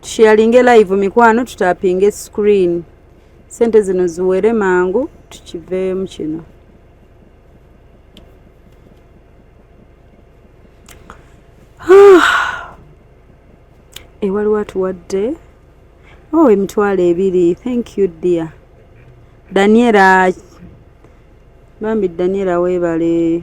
tusheyalinge live mikwano tutapinge screen sente zino ziwere mangu tukiveemu kino ewaliwo atuwadde o oh, emitwalo ebiri thank you dear daniela bambi daniela webale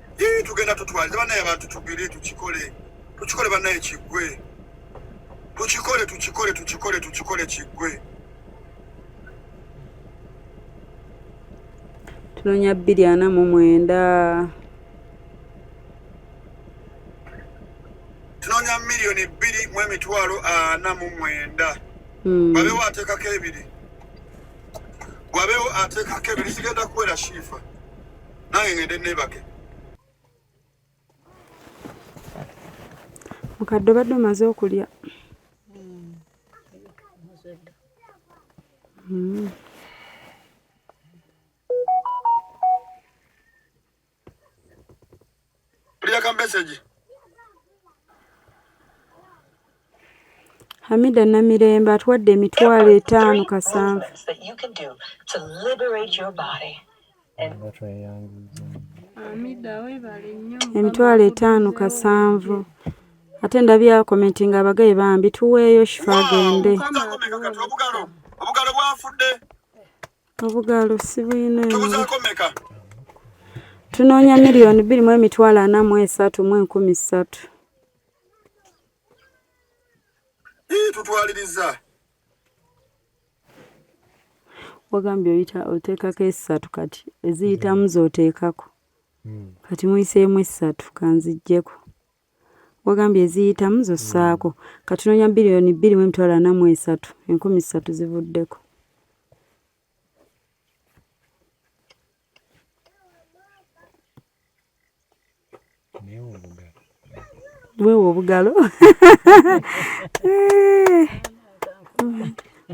Ii tugenda tutwaliza banaye abantu tugire tukikole tukikole banaye kigwe tukikole tukikole tukikole tukikole kigwe tunonya bbiri ana mu mwenda tunonya miliyoni bbiri mu emitwalo ana mu mwenda hmm. babewo atekako ebiri wabewo atekako ebiri sigenda kuwera shifa nange ngende nebake mukadde obadde omaze okulya hmm. Tulia ka message. Hamida Namirembe atwadde emitwalo etaano kasanvu. Emitwalo etaano kasanvu. Ate ndabye akomenti nga abagaye bambi tuweeyo shifa agende. Obugalo bwafudde. obugaalo sibuyina tunoonya miliyoni bbiri mu emitwalo ana mu esatu mu enkumi ssatu tutwaliriza wagambye oyita oteekako esatu kati eziyitamu zoteekako hmm. kati muyiseemu esatu kanzijjeko wagambye eziyitamu zossaako mm. katunoonya biliyoni bbiri mu emitwalo ana mu esatu enkumi ssatu zivuddeko weewa obugalo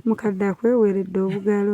mukadde akweweredde obugalo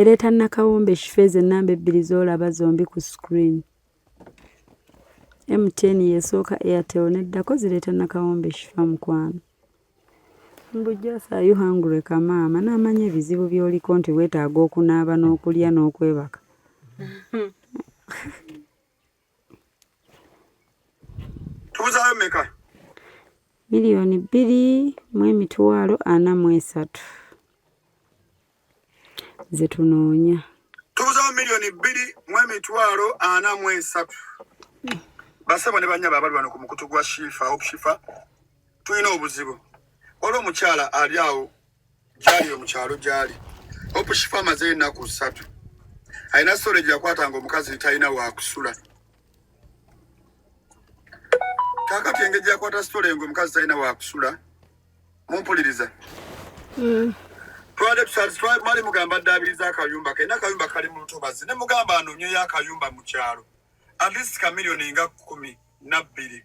ereeta nakawombe shifeeza ennamba ebbiri z'olaba zombi ku screen mtn yesooka airtel neddako zireeta nakawombe shifa mukwano mbujjasa ayu hangure kamaama n'amanya ebizibu by'oliko nti weetaaga okunaaba n'okulya n'okwebaka tubuzayo meka miliyoni bbiri mu emitwalo ana mu esatu ze tunoonya tubuzawo miliyoni bbiri mu emitwalo ana mu esatu basebo ne banyaba abali bano ku mukutu gwa shifa hope shifa tulina obuzibu waliwo omukyala ali awo kyali mu kyalo gyali hope shifa amaze ennaku ssatu alina sole gyakwatanga omukazi talina wakusula kakati engeri gyakwata sitole nga omukazi talina wakusula mumpuliriza mm. twali mugamba ddaabiriza akayumba ke nakayumba kali mu lutobazi ne mugamba anoonyeyo akayumba mu kyalo at least kamiliyoni nga kkumi nabbiri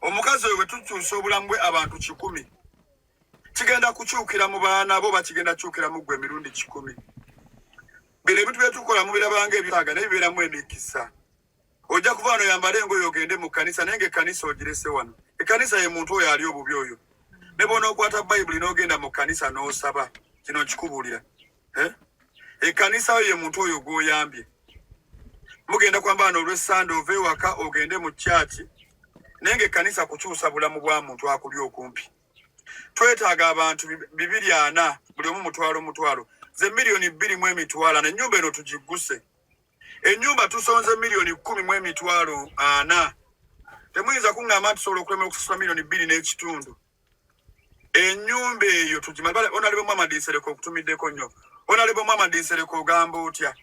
omukazi oyo bwetukyusa obulamu bwe abantu kikumi kigenda kukyukira mu baana bo bakigenda kyukira mu gwe emirundi kikumi bino ebintu byetukola mubirabanga ebyaga naye bibeeramu emikisa ojja kuba wano yambala engoyo ogende mu kanisa naye nga ekanisa ogirese wano ekanisa ye muntu oyo ali obubi oyo ne bona okwata bayibuli n'ogenda mu kanisa n'osaba kino nkikubuulira eh? ekkanisa yo ye muntu oyo gw'oyambye mugenda kwambala n'olwessande ova ewaka ogende mu kyaki naye ng'ekkanisa kukyusa bulamu bwa muntu akuli okumpi twetaaga abantu bibiri ana buli omu mutwalo mutwalo ze miliyoni bbiri mu emitwalo ana ennyumba eno tugigguse ennyumba tusonze miliyoni kkumi mu emitwalo ana temuyinza kuŋŋamba nti tusobola okulemera okusasula miliyoni bbiri n'ekitundu enyumba eyo tugimale onalebo mama dinsereko okutumiddeko nnyo onalebo mama dinsereko ogamba otya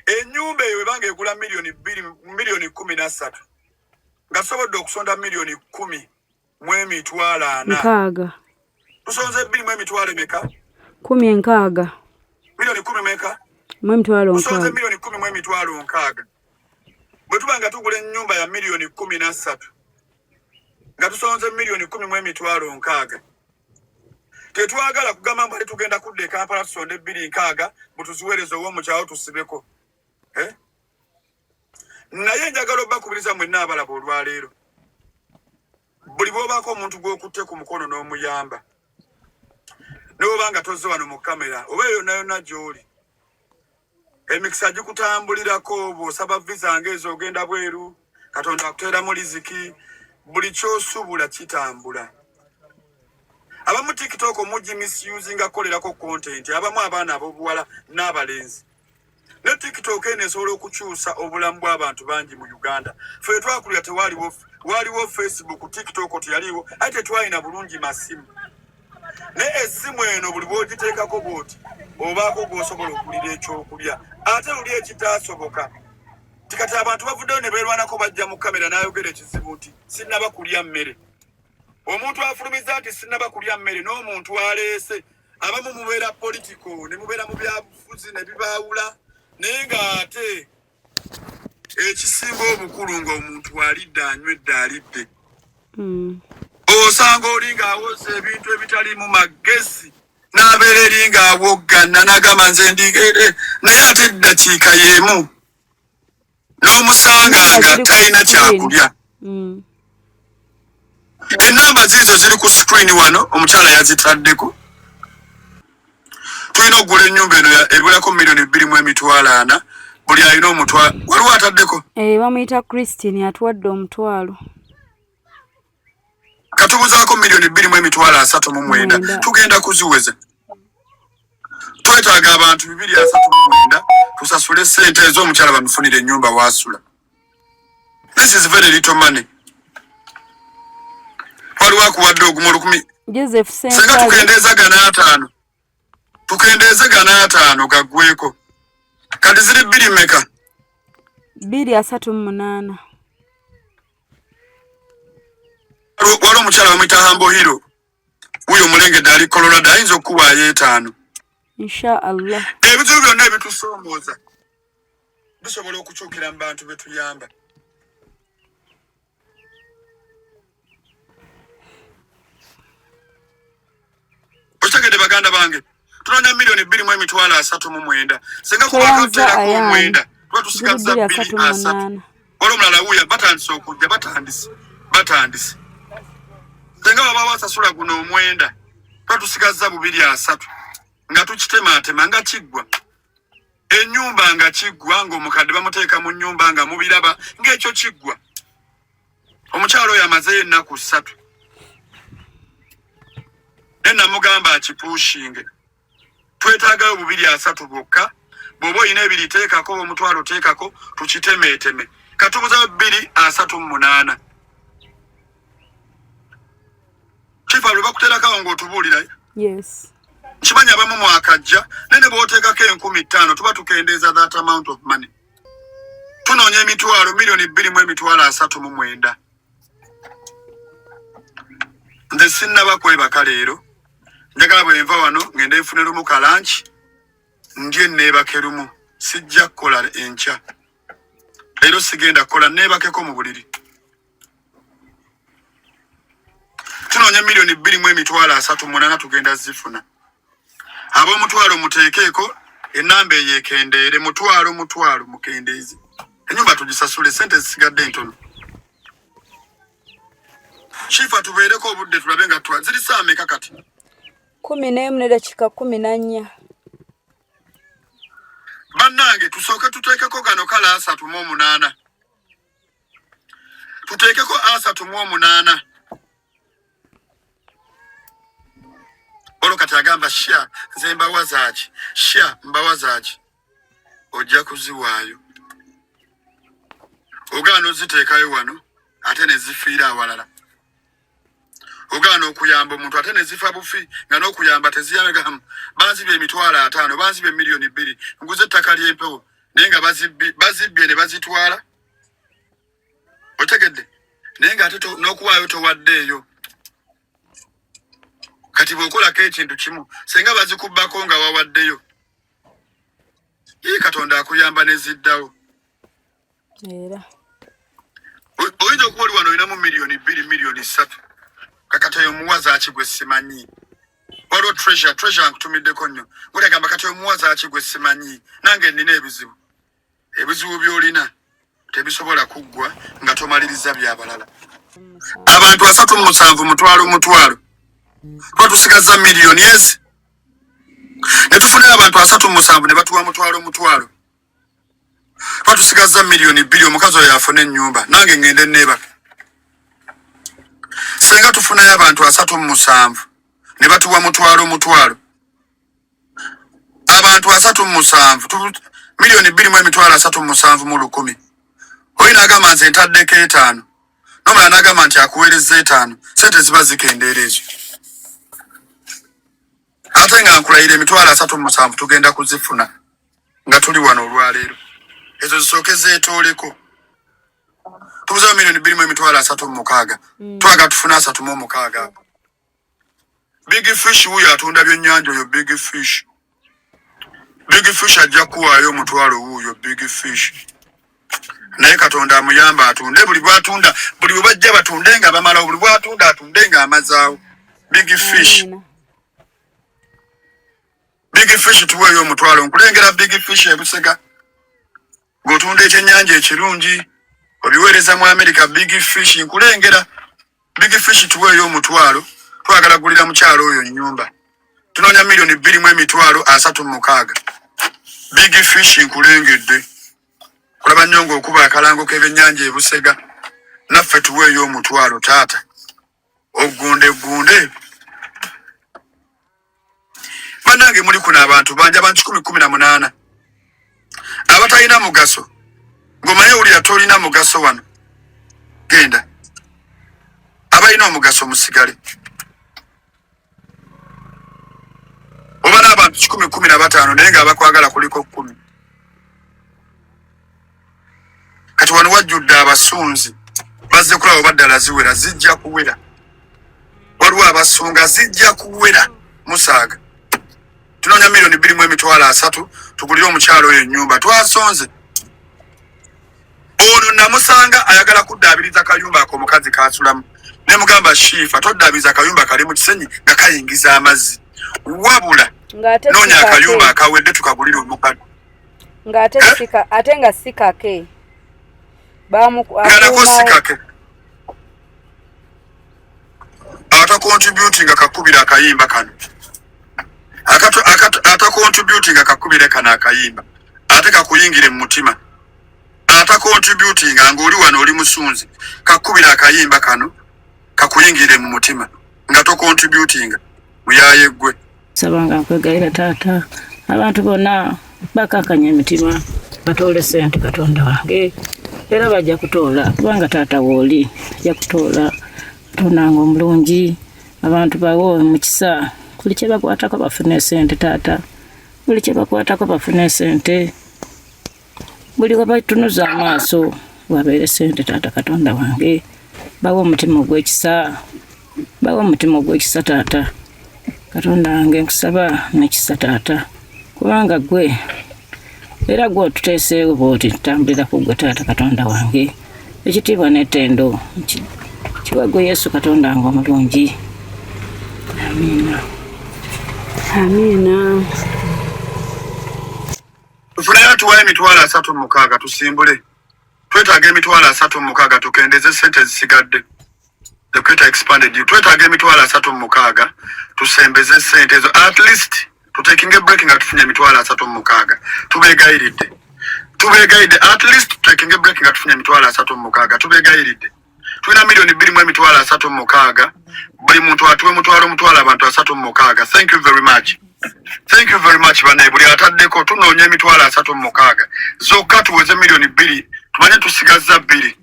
enyumba eyo ebanga egula milioni biri milioni kumi na ssatu nga tusobodde okusonda milioni kumi mu emitwalo ana nkaaga tusonze biri mu emitwalo emeka kumi enkaaga milioni kumi meka mu emitwalo nkaaga tusonze milioni kumi mu emitwalo nkaaga bwe tuba nga tugula enyumba ya milioni kumi na ssatu nga tusonze millioni kumi mu emitwalo nkaaga tetwagala kugamba mbali tugenda kudda ekampala tusonde ebbiri nkaaga mutuziweereza owomukyawo tusibeko eh? naye njagala obakubiriza mwenna abalaba olwaleero buli bwobaako omuntu gwokutte ku mukono n'omuyamba newobanga tozze wano mu kamera oba eyonayona gyoli emikisa gikutambulirako bw'osaba viza ng'ezoogenda bweru katonda akuteeramu liziki buli kyosubula kitambula abamu tiktok omugi misuse nga kukolerako kontenti abamu abaana abobuwala n'abalenzi ne tiktok eno esobola okukyusa obulamu bw'abantu bangi mu uganda fe twakulira tewaliwo waliwo facebook tiktok teyaliwo aye tetwalina bulungi masimu naye essimu eno buli bwogiteekako bwoti obaako gwosobola okulira ekyokulya ate luli ekitaasoboka tikati abantu bavuddeyo ne beerwanako bajja mu kamera n'ayogera ekizibu nti sinnaba kulya mmere omuntu afulumiza nti sinnaba kulya mmere n'omuntu aleese abamu mubeera politiko ne mubeera mu byabufuzi ne bibaawula naye ng'ate ekisinga obukulu nga omuntu alidde anywedde alidde hmm. osanga oli ng'awoza ebintu ebitalimu magezi n'abeera eri ng'awoggana n'agamba nze ndigere naye ate eddakiika y'emu n'omusanga nga talina kyakulya mm. enamba ziizo ziri ku screen wano omukyala yazitaddeko tulina okugula enyumba eno ebulako milioni bbiri mu emitwalo ana buli alina omutwalo waliwo ataddeko eh, bamuyita christine atuwadde omutwalo katubuzaako milioni bbiri mu emitwalo asatu mu mwenda tugenda kuziweza twetaaga abantu bibiri asatu mu mwenda tusasule sente ez'omukyala bamufunire enyumba wasula This is very little money. Waliwo akuwadde ogumu olukumi. Joseph Sentale. Senga tukendeeza gana ataano. Tukendeeze gana ataano gaggweeko. Kati ziri bbiri meka? Bbiri asatu mu munaana. Waliwo omukyala bamuyita Hambo Hero. wuyo omulengedde ali colorado ayinza okukuwaayo etaano inshaallah ebizibu byonna ebitusoomooza bisobola okukyukira mu bantu betuyamba okitegedde baganda bange tulonda milioni bbiri mu emitwalo asatu mu mwenda singa kubakateerako omwenda tuba tusigaza bbiri asatu wali omulala wuya batandise okujja batandise batandise singa baba basasula guno omwenda tuba tusigaza bubiri asatu nga tukitematema nga kiggwa enyumba nga kiggwa ngaomukadde bamuteeka mu nyumba nga mubiraba ngaekyo kiggwa omukyalo oyo amazeyo ennaku ssatu ne namugamba akipuushinge twetaagayo bubiri asatu bwokka bwoba olina ebiri teekako omutwalo teekako tukitemeeteme katubuzayo bbiri asatu mu munaana kifa lwe bakuterakawo ng'otubuulirayo nkimanyi abamu mwakajja naye ne bwoteekako enkumi ttaano tuba tukendeeza that amount of money tunoonya emitwalo miliyoni bbiri mu emitwalo asatu mu mwenda nze sinnaba kwebaka leero njagala bwe nva wano ng'enda enfune lumu kalanki ndye neebake lumu sijja kukola enkya leero sigenda kukola neebakeko mu buliri tunoonya miliyoni bbiri mu emitwalo asatu munana tugenda zifuna ab'omutwalo muteekeeko enamba eyo ekendeere mutwalo mutwalo mukendeeze enyumba tugisasule sente zisigadde entono shifa tubeereko obudde tulabe nga twa ziri saa meka kati kumi n'emu ne dakiika kumi na nnya bannange tusooke tuteekeko gano kale asatu mu omunaana tuteekeko asatu mu omunaana olwo kati agamba sha nze mbawa zaaki sha mbawa zaaki ojja kuziwaayo ogaana oziteekayo wano ate nezifiira awalala ogaana okuyamba omuntu ate nezifa bufi nga nokuyamba teziyamegam banziba emitwalo ataano banziba emiliyoni bbiri nguza ettaka lyempewo naye nga bazibbye ne bazitwala otegedde naye nga ate nokuwaayo towaddeeyo kati bwokolako ekintu kimu senga bazikubbako nga wawaddeyo ii katonda akuyamba neziddawo era oyinza okuba oli wano olinamu miliyoni bbiri miliyoni ssatu kakati oyo omuwaza ki gwe simanyi waliwo treasure treasure nkutumiddeko nnyo gulegamba kati oyo omuwaza ki gwe simanyi nange nina ebizibu ebizibu byolina tebisobola kuggwa nga tomaliriza byabalala abantu asatu mu musanvu mutwalo mutwalo tuba tusigaza miliyoni ezi ne tufunira abantu asatu mu musanvu ne batuwa mutwalo mutwalo batusigazza miliyoni bbiri omukazi oyo afune ennyumba nange ngende neebaka senga tufunayo abantu asatu mu musanvu ne batuwa mutwalo mutwalo abantu asatu mu musanvu miliyoni bbiri mu emitwalo asatu mu musanvu mu lukumi oli nagamba nze ntaddeko etaano nomala nagamba nti akuweereza etaano sente ziba zikendeera ezo ate nga nkulayira emitwalo asatu mu musanvu tugenda kuzifuna nga tuli wano olwaleero ezo zisooke zeetooleko tubuzawo milioni bbiri mu emitwalo asatu mu mukaaga mm. twaga tufuna asatu mu omukaaga ako big fish wuyo atunda byennyanja oyo big fish big fish ajja kuwaayo omutwalo wuuyo big fish naye katonda amuyamba atunde buli bwatunda buli bwe bajja batunde nga bamalawo buli bwatunda atunde nga amazaawo big fish mm. Big fish tuweeyo omutwalo nkulengera big fish ebusega ng'otunda ekyennyanja ekirungi obiweereza mu amerika big fish nkulengera big fish tuweeyo omutwalo twagala gulira mukyalo oyo nnyumba tunoonya miliyoni bbiri mu emitwalo asatu mu mukaaga big fish nkulengedde kulaba nnyo ng'okuba akalango k'ebyennyanja ebusega naffe tuweeyo omutwalo taata ogundegunde banange muli kuno abantu banja abantu kikumi kumi na munaana abatalina mugaso ngomanye wulira tolina mugaso wano genda abalina omugaso musigale oba n'abantu kikumi kumi na bataano naye ng'abakwagala kuliko kumi kati wano wajjudde abasunzi bazze kulaba oba ddala ziwera zijja kuwera waliwo abasunga zijja kuwera musaaga tunoonya miliyoni bbiri mu emitwalo asatu tugulire omukyalo oyo ennyumba twasonze ono namusanga ayagala kuddaabiriza kayumba ako omukazi kaasulamu ne mugamba shiifa toddaabiriza kayumba kali mu kisenyi nga kayingiza amazzi wabula noonya akayumba akawedde tukagulire omukadde ng'ate eh? sika ate nga si kake bamukuumawo si kake atakontributinga kakubira akayimba kano atakontributinga kakubire kano akayimba ate kakuyingire mu mutima atakontributinga nga oli wano oli musunzi kakubira akayimba kano kakuyingire mu mutima nga tokontributinga muyaye gwe sabanga nkwegayira taata abantu bonna bakakanya emitima batoole sente katonda wange era bajja kutoola kubanga taata wooli ajja kutoola tonanga omulungi abantu bawo mukisa buli kyebakwatako bafuna esente taata buli kyebakwatako bafuna esente buli webatunuza amaaso wabeere sente taata katonda wange bawa omutima ogwekisa bawa omutima ogwekisa taata katonda wange nkusaba nekisa taata kubanga gwe era gwe otuteeseewo bwoti tutambulira ku gwe taata katonda wange ekitiibwa n'ettendo kiwa gwe yesu katonda wange omulungi amiina amiina tufuneyo tuwayo emitwalo asatu mukaaga tusimbule twetaaga emitwalo asatu mukaaga tukendeze sente ezisigadde equator expanded you twetaaga emitwalo asatu mu mukaaga tusembeze sente ezo at least tutekinge break nga tufunye emitwalo asatu mu mukaaga tubeegayiridde tubeegayiridde at least tutekinge break nga tufunye emitwalo asatu mu mukaaga tubeegayiridde tulina milioni bbiri mu emitwalo asatu mu mukaaga buli muntu atuwe mutwalo mutwalo abantu asatu mu mukaaga thank you very much thank you very much banaye buli ataddeko tunoonya emitwalo asatu mu mukaaga zokka tuweze milioni bbiri tumanye tusigazza bbiri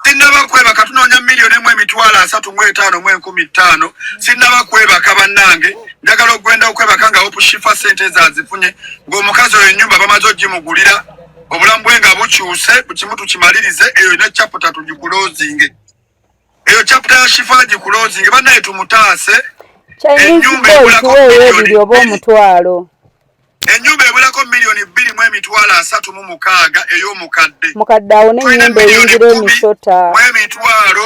sinnaba kwebaka tunoonya miliyoni emu emitwalo asatu mu etaano mu enkumi ttaano sinnaba kwebaka bannange njagala okugenda okwebaka nga opushifa sente ezazifunye ng'omukazi oyo ennyumba bamaze ogimugulira obulamu bwe nga bukyuse ku kimu tukimalirize eyo ne chaputa tugikulozinge eyo chaputa ya shifa gikulozinge banaye tumutaase enyumba ebulako miliyoni oba omutwalo enyumba ebulako miliyoni bbiri mu emitwalo asatu mu mukaaga ey'omukadde mukadde awo nenyumba eyingira emisota mu emitwalo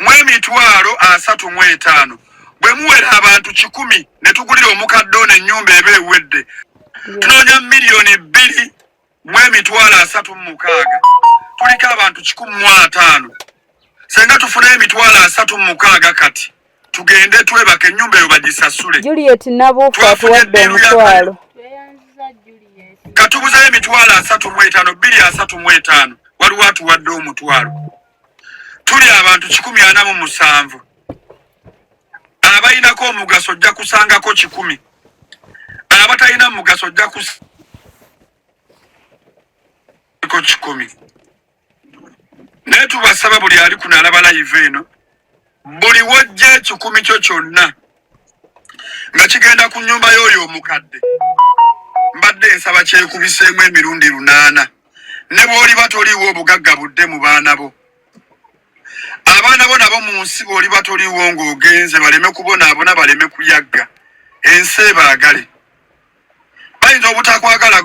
mu emitwalo asatu mu etaano bwe muwera abantu kikumi ne tugulira omukadde ono ennyumba eba ewedde tunoonya miliyoni bbiri mu emitwalo asatu mu mukaaga tuliko abantu kikumi mu ataano senga tufuna emitwalo asatu mu mukaaga kati tugende twebaka ennyumba eyo bagisasule twafunye eddiiru yakwalo katubuzayo emitwalo asatu mu etaano bbiri asatu mu etaano waliwo atuwadde omutwalo tuli abantu kikumi ana mu musanvu abalinako omugaso ojja kusangako kikumi abatalina mugaso ojja kusangako kikumi naye tubasaba buli ali kunalaba layivu eno buli wojja ekikumi kyo kyonna nga kigenda ku nyumba y'oyo omukadde mbadde nsaba kyekubiseemu emirundi lunaana ne bw'oliba toliiwo obugagga budde mu baana bo abaana bo nabo mu nsi bw'oliba toliiwo ng'ogenze baleme kubonaabona baleme kuyagga ensi ebaagale bayinza obutakwagala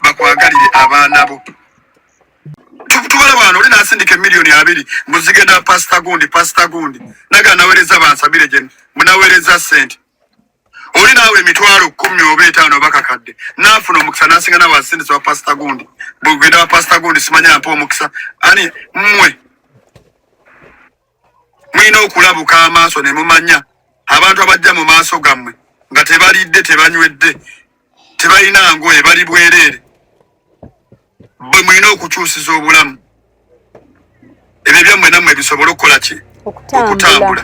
bakwagalire abaana bo tubala bwana oli nasindika emiliyoni abiri muzigenda pasita gundi pasita gundi naga nawereza bansabire gye munawereza sente oli naawe emitwalo kumi oba etaano bakakadde naafuna omukisa nasinga nawe asindisa wa pasita gundi bwegenda wa pasita gundi simanya mpa omukisa ani mmwe mulina okulabuka amaaso ne mumanya abantu abajja mu maaso gammwe nga tebalidde tebanywedde tebalina ngoye bali bwereere bwe mulina okukyusiza obulamu ebyo byammwe nammwe bisobole okukola ki okutambula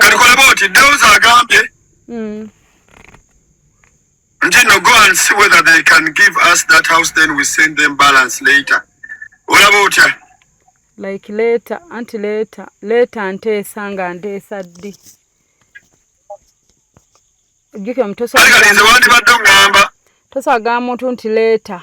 katukolaba oti deus agambye hmm. nti no go and see whether they can give us that house then we send them balance later olaba otya like later anti later later nteesa nga nteesa ddi ojjukira mutosagalinze wandibadde ogamba tosagaa muntu nti later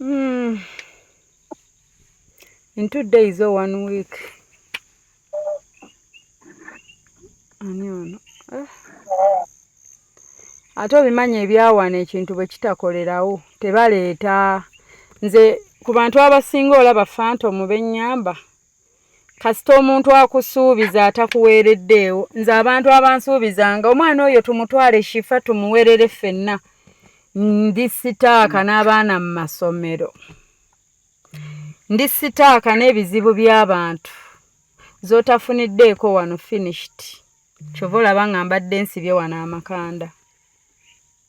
Mm. In two days or one week. Ani ono? Eh. Ate obimanyi ebyawana ekintu bwe kitakolerawo tebaleeta nze ku bantu abasinga olaba fantomu bennyamba kasita omuntu akusuubiza atakuweereddeewo nze abantu abansuubiza nga omwana oyo tumutwale shifa tumuwerere ffenna ndi sitaaka n'abaana mu masomero ndi sitaaka n'ebizibu by'abantu z'otafuniddeeko wano finished kyova olaba nga mbadde nsibye wano amakanda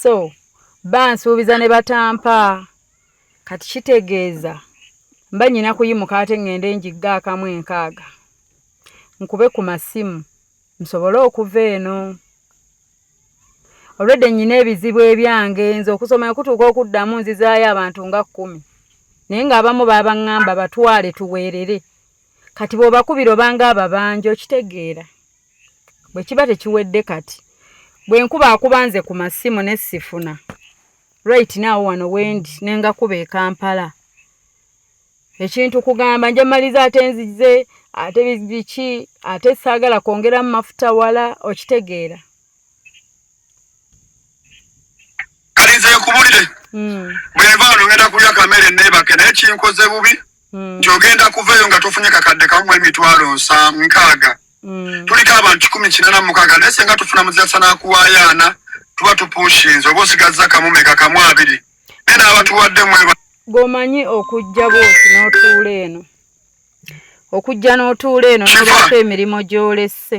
so bansuubiza ne batampa kati kitegeeza mba nyina kuyimuka ate ŋŋende njigga akamu enkaaga nkube ku masimu nsobole okuva eno olwedde nyina ebizibu ebyange nze okusoma okutuuka okuddamu nzizaayo abantu nga kkumi naye ng'abamu baabaŋŋamba batwale tuweerere kati bw'obakubira obanga ababanja okitegeera bwe kiba tekiwedde kati bwe nkuba akuba nze ku masimu ne sifuna right now wano wendi ne nga kuba e kampala ekintu kugamba nja maliza ate nzize ate biki ate saagala kwongera mu mafuta wala okitegeera kalize nkubulire hmm. bweva nogenda kulya kamere nebake naye kinkoze bubi mm. nti ogenda kuvaeyo nga tofunye kakadde kamu emitwalo nsa nkaaga mm. tuliko abantu kikumi kinana mukaaga naye senga tufuna muzasa nakuwayaana tuba tupushinze oba osigazza kamu meka kamu abiri naye naabatuwadde mweba gwomanyi okujja bwoti n'otuula eno okujja n'otuula eno n'obaako emirimu gy'olesse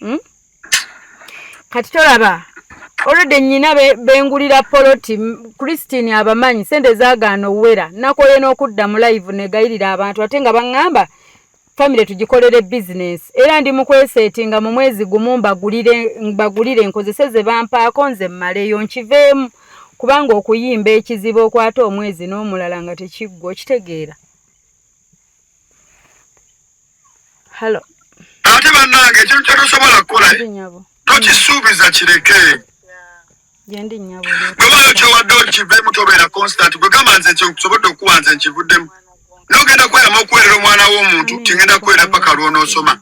hmm? kati tolaba olwedde nyina bengulira poloti christine abamanyi sente zagaana owera nakoye n'okudda mu live negayirira abantu ate nga baŋŋamba famire tugikolere bizinesi era ndi mukweseti nga mu mwezi gumu mbagulire nkozese ze bampaako nze mmaleyo nkiveemu kubanga okuyimba ekizibu okwata omwezi n'omulala nga tekiggwa okitegeera halo ate bannange ekintu kyotosobola kukola tokisuubiza kireke gyendi nyabo bwebayo kyowadde okivemu tobeera constant gwe gamba nze kyosobodde okuwa nze nkivuddemu nogenda kweramu okuwerera omwana w'omuntu tingenda kuwera paka lwonoosoma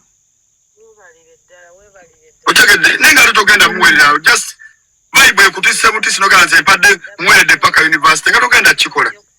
otegedde naye nga totogenda muwererawo just vibe ekutisse butisi nogamba nze mpadde muweredde paka university nga togenda kukikola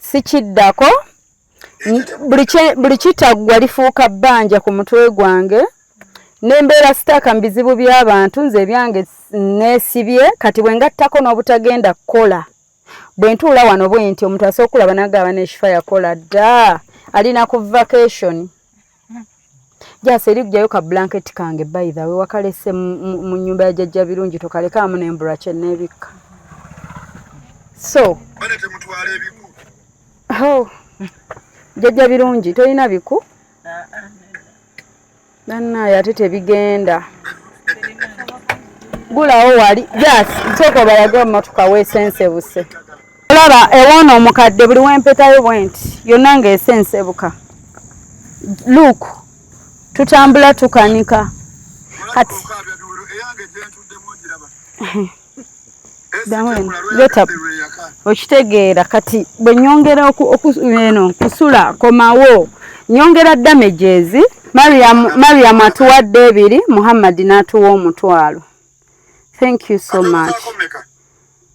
sikiddako buli kitaggwa lifuuka bbanja ku mutwe gwange nembeera sitaaka mu bizibu by'abantu nze ebyange neesibye kati bwe ngattako n'obutagenda kukola bwe ntuula wano bwe nti omuntu asooka okulaba nagamba neshifa yakola dda ali na ku vacation jasi eri kujayo ka blanket kange by the way wakalese mu nyumba ya jajja birungi tokaleka amu nembura kye nebikka so oh. jajja birungi tolina biku nanaye ate tebigenda gulawo wali jasi sooka obalage omumatuka wesensebuse olaba ewoona omukadde buli wempetayo bwenti yonna ngaese ensebuka luk tutambula tukanika kati okitegeera kati bwe nyongera eno kusula komawo nyongera damages mariam atuwadde ebiri muhammadi n'atuwa omutwalo thank you so much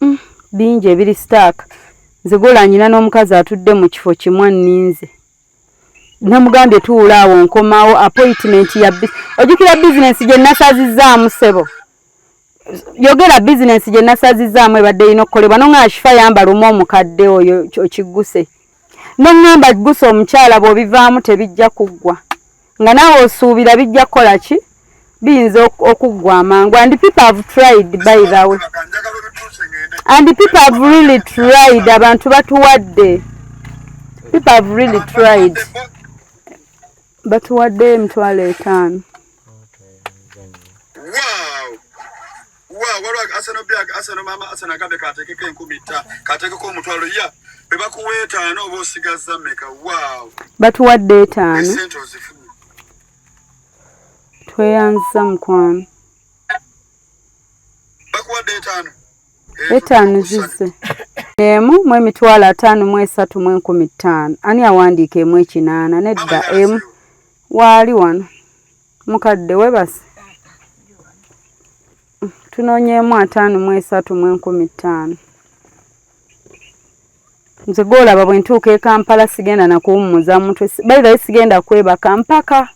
Mm, bingi ebiri sitaaka nze golanyina n'omukazi atudde mu kifo kimu anninze namugambye tuula awo nkomawo appointment ya ojukira bizinensi gye nasazizaamu sebo yogera bizinensi gye nasazizaamu ebadde erina okukolebwa no nga ashifa yambala omu omukadde oyo okigguse Nengamba gusa omukyala bwobivaamu tebijja kuggwa nga naawe osuubira bijja kukola ki biyinza okuggwa amangu and people have tried by the way and people have really tried abantu batuwadde people have really tried batuwadde emitwalo etaano wa waliwo asano bya asano maama asano agambye katekeko enkumi tta katekeko omutwalo ya bwe bakuwa etaano oba osigazza meka waaw batuwadde etaano esente ozifuna tweyanziza mukwano bakuwadde etaano etaano zizze emu mu emitwalo ataano mu esatu mu enkumi ttaano ani awandiika emu ekinaana nedda emu waali wano Mukadde webase tunonyeemu ataano mu esatu mu enkumi ttaano nze gwolaba bwe ntuuka e kampala sigenda nakuwummuza mutwe bayirayo sigenda kwebaka mpaka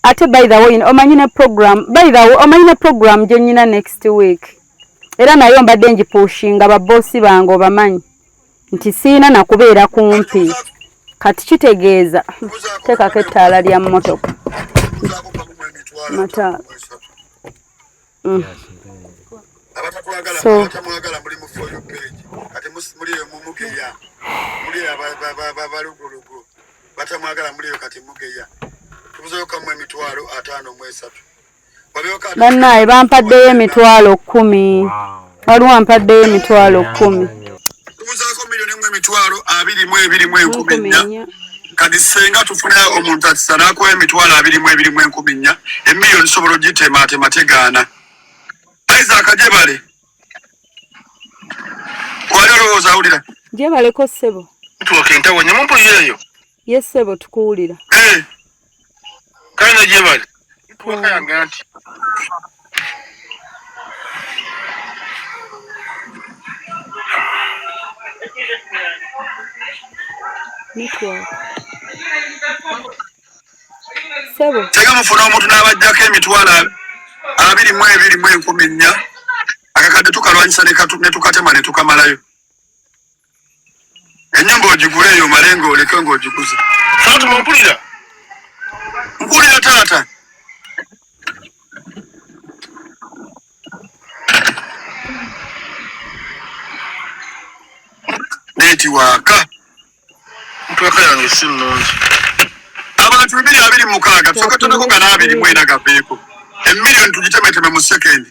ate bayirawo yino omanyi ne program bayirawo omanyi ne program gye nnyina next week era nayo mbadde ngipuushinga babosi bange obamanyi nti siina nakubeera kumpi kati kitegeeza teekako ettaala lya mmotoka mataala mm. so batamwagala muliyo kati mugeya tubuzeyo kamu emitwalo ataano mwesatu bannaaye bampaddeyo emitwalo kkumi waliwo ampaddeyo emitwalo kkumi tubuzaako miliyoni emu emitwalo abiri mu ebiri mu enkumi nnya kati senga tufune omuntu atisa nakuwa emitwalo abiri mu ebiri mu enkumi nnya emiliyoni sobola ogitemaatema tegaana isaaka gyebale wali olowooza awulira gyebaleko ssebo tuoka entawo nyamumpulira eyo Ye ssebo tukuwulira. Eh. Kale gye bali. Twakayanga nti. Network. Ssebo. Tega mufuna omuntu n'abajjako emitwalo abiri mu ebiri mu enkumi nnya akakadde tukalwanyisa ne tukatema ne tukamalayo. enyumba ogigule eyo male nga oleke nga ogiguze fatuma mpulira mpulira taata neti waka ntweka yange si nnungi abantu bibiri abiri mukaaga tusoka tonako nga n'abiri mwena gaveeko emiliyoni tugitemeteme mu sekendi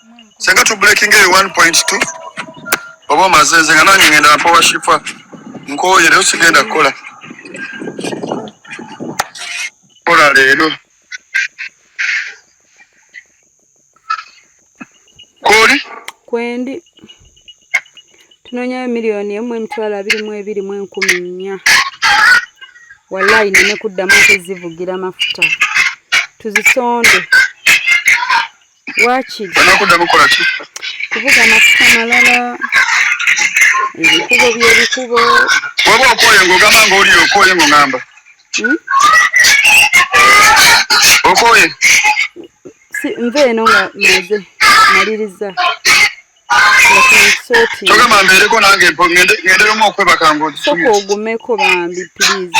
senga tu breaking eyo 1.2 oba omaze nze nga nange ngenda mpowa shifa nkooye leero sigenda kukola kola leero kwoli kwendi tunonyayo miliyoni emu emitwalo abiri mu ebiri mu enkumi nnya wallayi neme kuddamu okuzivugira amafuta tuzisonde wakiri kuvuga mafuta malala ebikubo byebikubo waba okoye ngaogamba ngaoli okoye ngaogamba hmm? okoye nva eno nga maze maliriza togamba mbeereko nange ngenderomu okwebaka ngosoka ogumeko bambi please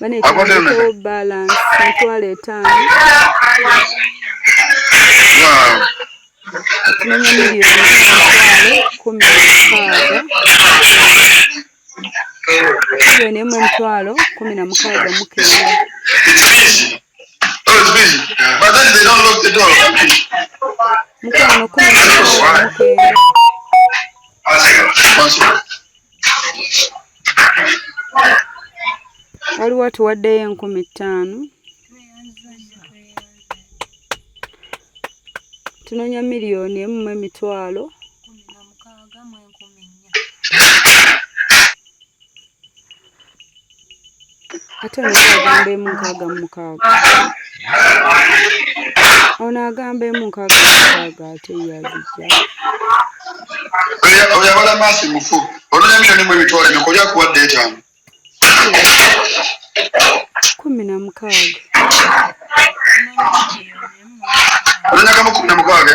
banetandikewo balance mitwalo etaano okumenya miliyoni emitwalo kumi mukaaga miliyoni emu emitwalo kumi na mukaaga mukenda mukwano kumi na mukaaga mukenda waliwo tuwaddeyo enkumi ttaano tunonya miliyoni emu mu emitwalo ate ono agamba emu nkaaga mu mukaaga ono agamba emu nkaaga mu mukaaga ate yazijja oyabala maasi mufu olulya miliyoni mu ebitwala emeka olya kuwa dda etaano kumi na mukaaga olunyaga mu kumi na mukaaga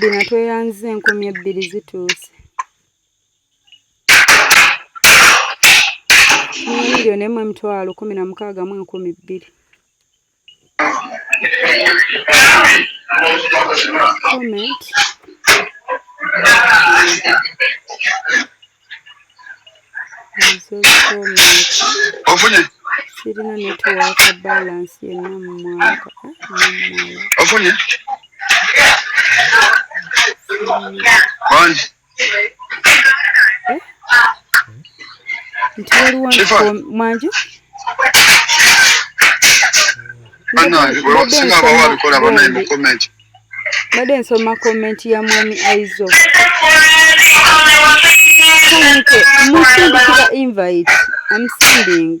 Bino tweyanziza enkumi ebbiri zituuse. miliyoni emu emitwalo kumi na mukaaga mu enkumi bbiri comment ofunye kirina netiwaaka balansi yenna mu mwaka ofunye bangi nti waliwo mwangi mbadde nsoma komenti ya mwami aizo Thank you. Musimbi to the invite. I'm sending.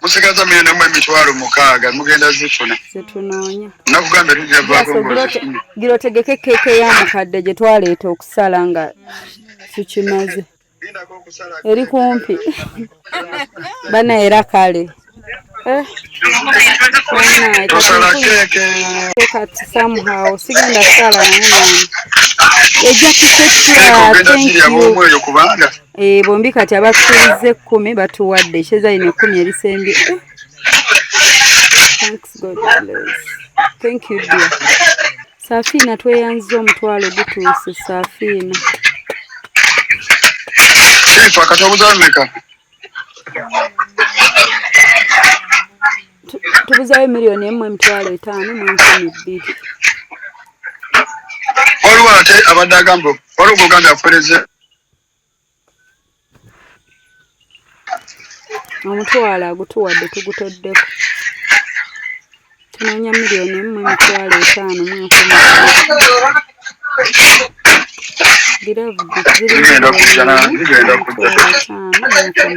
musigaza muyenda mu emitwalo mukaaga mugenda zifuna zetunoonya nakugambye tujagira otegeke keeke ya mukadde gye twaleeta okusala nga tukimaze eri kumpi bana era kale eh, kati somehow sigenda kusala naye mwana ejja kusekula thank you Eh, bombi kati abasuubiza ekkumi batuwadde ekyeza lino ekkumi erisembye thank you dear safiina tweyanziza omutwalo gutuuse safiina tubuzayo miliyoni emu emitwalo etaano mu enkumi bbiri waliwo ate abadde agamba waliwo goganda afereze omutwalo agutuwadde tugutoddeko tunoonya miliyoni emu emitwalo etaano mu enkumi giravuzi zirimu etaano mu enkumi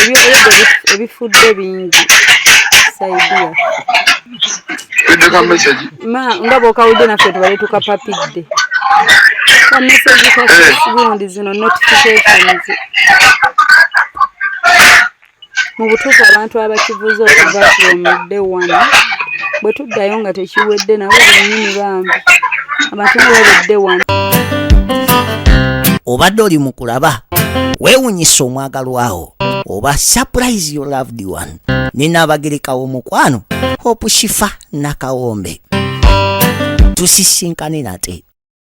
ebyobulogo ebifudde bingi saidia ma nga bwokawudde naffe tubale tukapapidde kamesegi ka facebook eh. zino notifications mu butuufu abantu abakibuuza okuva kuomudde wano bwe tuddayo nga tekiwedde nabo bennyini bambi abantu nga babedde wano obadde oli mu kulaba wewunyisa omwagalwawo oba surprise your loved one nina abagereka w'omukwano hope shifa nakawombe tusisinkane nate